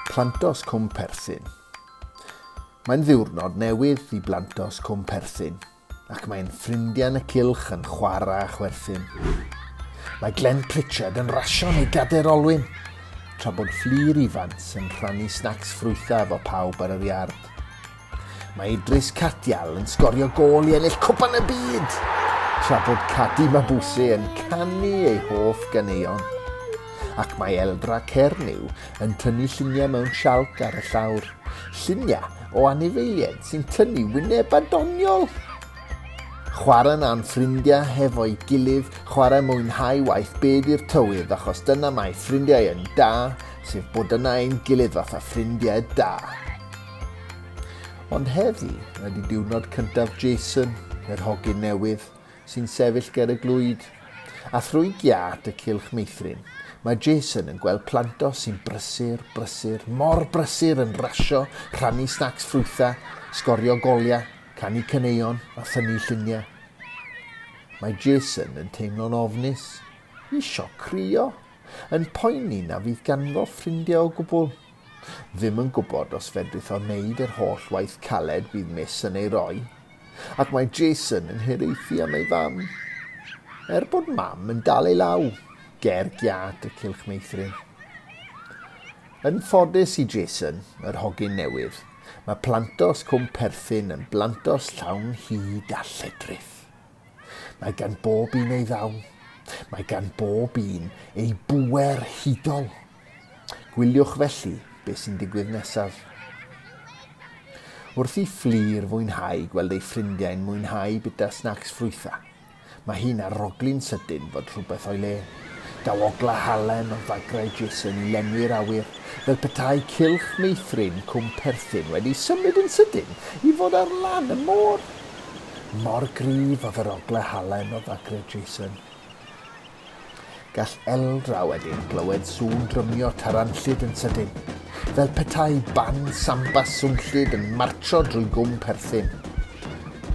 Plantos Cwm Perthyn Mae'n ddiwrnod newydd i Blantos Cwm Perthyn ac mae'n ffrindiau yn y cylch yn chwarae a chwerthin. Mae Glenn Pritchard yn rasio neu gader olwyn, tra bod Fflir Ifans yn rhannu snacs ffrwythau efo pawb ar yr iard. Mae Idris Cardial yn sgorio gôl i ennill Cwpan y Byd, tra bod Cadi Mabuse yn canu ei hoff ganeuon. Ac mae Eldra Cernyw yn tynnu lluniau mewn sialc ar y llawr, lluniau o anifeiliaid sy'n tynnu wynebau doniol! Chwarae na am ffrindiau hefo'i gilydd, chwarae mwynhau waith byd i'r tywydd achos dyna mae ffrindiau yn da, sef bod yna ein gilydd fatha ffrindiau da. Ond heddi ydy diwrnod cyntaf Jason, yr hogyn newydd, sy'n sefyll ger y glwyd. A thrwy giât y cylch meithrin, mae Jason yn gweld planto sy'n brysur, brysur, mor brysur yn rasio, rhannu snacs ffrwytha, sgorio goliau, canu caneuon a thynnu lluniau. Mae Jason yn teimlo'n ofnus, isio crio, yn poeni na fydd ganddo ffrindiau o gwbl. ddim yn gwybod os fedrith o wneud yr holl waith caled bydd Miss yn ei roi, ac mae Jason yn hiraethu am ei fam. Er bod Mam yn dal ei law, ger giât y cylch meithrin. Yn ffodus i Jason, yr hogyn newydd, mae plantos cwm perthyn yn blantos llawn hyd a lledrith. Mae gan bob un ei ddawn. Mae gan bob un ei bwer hudol. Gwyliwch felly beth sy'n digwydd nesaf. Wrth i Fflur fwynhau gweld ei ffrindiau'n mwynhau bita snacs ffrwytha, mae hi'n arogli'n sydyn fod rhywbeth o'i le. Daw ogla halen o fagrau Jason i lenwi'r awyr, fel petai cylch meithrin Cwm Perthyn wedi symud yn sydyn i fod ar lan y môr. Mor gryf oedd yr ogla halen o fagrau Jason. Gall Eldra wedyn glywed sŵn drymio taranllyd yn sydyn, fel petai band samba swnllyd yn martsio drwy gwm perthyn.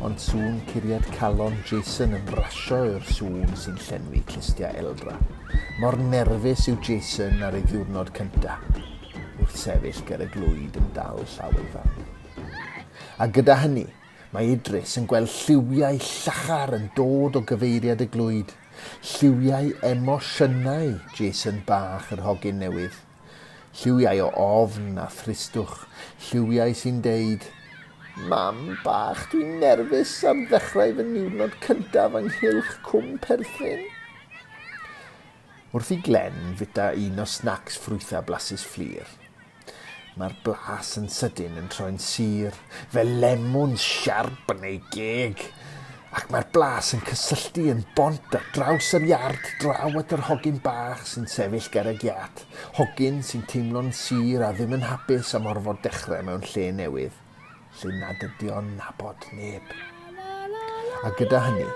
Ond sŵn curiad calon Jason yn brasio yw'r sŵn sy'n llenwi clustiau Eldra. Mor nerfus yw Jason ar ei ddiwrnod cynta, wrth sefyll ger y glwyd yn dal llaw ei fam. A gyda hynny, mae Idris yn gweld lliwiau llachar yn dod o gyfeiriad y glwyd. Lliwiau emosiynau Jason bach yr hogyn newydd. Lliwiau o ofn a thristwch. Lliwiau sy'n deud, Mam bach, dwi'n nerfus ar ddechrau fy niwrnod cyntaf ynghylch Cwm Perthyn. Wrth i Glenn fita un o snacs ffrwythau blasus Fflur. Mae'r blas yn sydyn yn troi'n sur, fel lemwn siarp yn ei geg, ac mae'r blas yn cysylltu yn bont ar draws yr iard draw at yr hogyn bach sy'n sefyll ger y giât, hogyn sy'n teimlo'n sur a ddim yn hapus am orfod dechrau mewn lle newydd. lle nad ydy o'n nabod neb. A gyda hynny,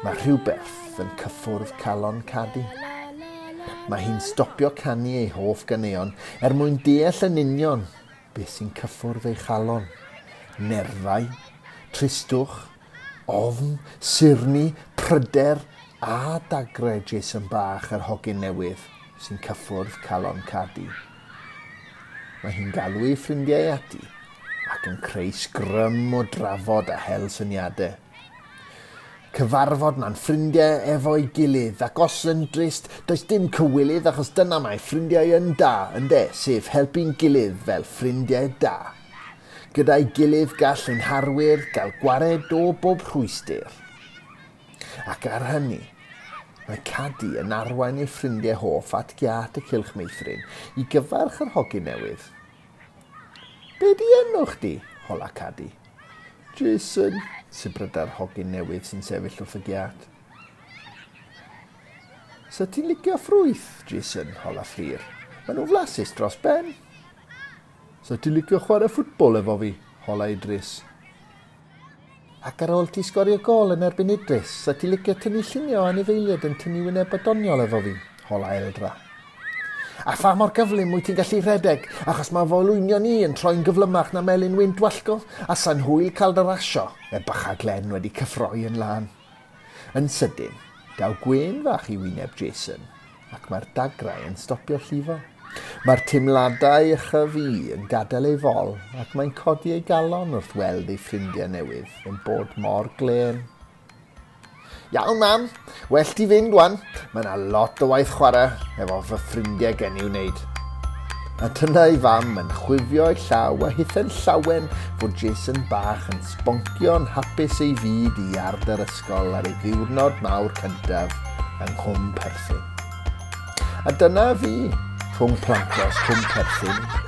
mae rhywbeth yn cyffwrdd calon Cadi. Mae hi'n stopio canu ei hoff ganeuon er mwyn deall yn union beth sy'n cyffwrdd ei chalon. Nerfau, tristwch, Ofn, sirni, pryder a dagrau Jason bach yr hogyn newydd sy'n cyffwrdd calon Cadi. Mae hi'n galw ei ffrindiau ati ac yn creu sgrym o drafod a hel syniadau. Cyfarfod mae'n ffrindiau efo'i gilydd ac os yn drist, does dim cywilydd achos dyna mae ffrindiau yn da, ynde, sef helpu'n gilydd fel ffrindiau da. Gyda'i gilydd gall ein harwyr gael gwared o bob rhwystr. Ac ar hynny, mae Cadi yn arwain ei ffrindiau hoff at giât y Cylch Meithrin i gyfarch yr hogyn newydd. Be di enw chdi? hola Cadi. Jason, sibryda'r hogyn newydd sy'n sefyll wrth y giât. Sa ti'n licio ffrwyth, Jason, hola Fflur. Maen nhw'n flasus dros ben. 'Sa ti licio chwarae ffwtbol efo fi? hola Idris. Ac ar ôl ti sgorio gôl yn erbyn Idris, 'sa ti licio tynnu lluniau o anifeiliaid yn tynnu wyneb a doniol efo fi? hola Eldra. A pha mor gyflym wyt ti'n gallu rhedeg, achos mae fy olwynion i yn troi'n gyflymach na melin wynt wallgof, a sa'n hwyl cael dy rasio? Mae bachau Glenn wedi cyffroi yn lân. Yn sydyn, daw gwên fach i wyneb Jason, ac mae'r dagrau yn stopio llifo. Mae'r teimladau ychyf i yn gadael ei fol, ac mae'n codi ei galon wrth weld ei ffrindiau newydd yn bod mor glên. Iawn, Mam. Well ti fynd wan. Mae yna lot o waith chwarae efo fy ffrindiau gen i'w wneud. A dyna ei fam yn chwifio ei llaw a hithen llawen fod Jason bach yn sboncio'n hapus ei fyd i ard yr ysgol ar ei ddiwrnod mawr cyntaf yng Nghwm Perthyn. A dyna fi, rhwng plantos Cwm Perthyn